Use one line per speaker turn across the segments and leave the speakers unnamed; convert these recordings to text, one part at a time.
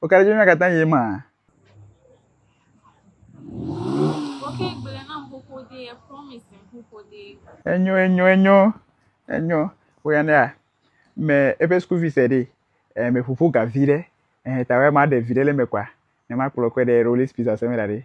Wo ka ɖe dzi katã yi ma. Woke
gblẽ na ƒoƒo de ye promise ƒoƒo de. Enyo enyo enyo
enyo wo ya ne me eƒe school fees ɖe eh, me ƒoƒo ga vi ɖe eh, ta wa ma ɖe vi ɖe le me kwa ne ma kplɔ kɔ ɖe rolis pizza sɛ me da ɖe.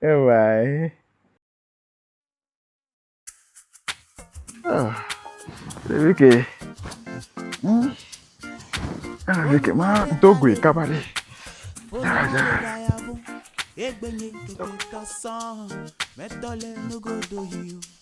Evae. Ah, vi ke. Hmm. Ah, vi ke ma do gui kaba ɖe. Ah, ja. Egbenye keke kasã, mɛtɔ le nugodo yi o.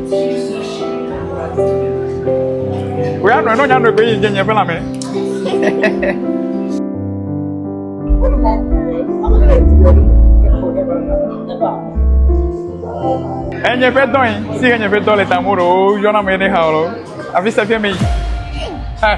Oya nɔ nɔ nyanu egbe yi nye nye ƒe lãme. Enye ƒe dɔ yi si enye ƒe dɔ le tamu ɖe wo yɔna me ne ha o. Afi se fi mi. Eh.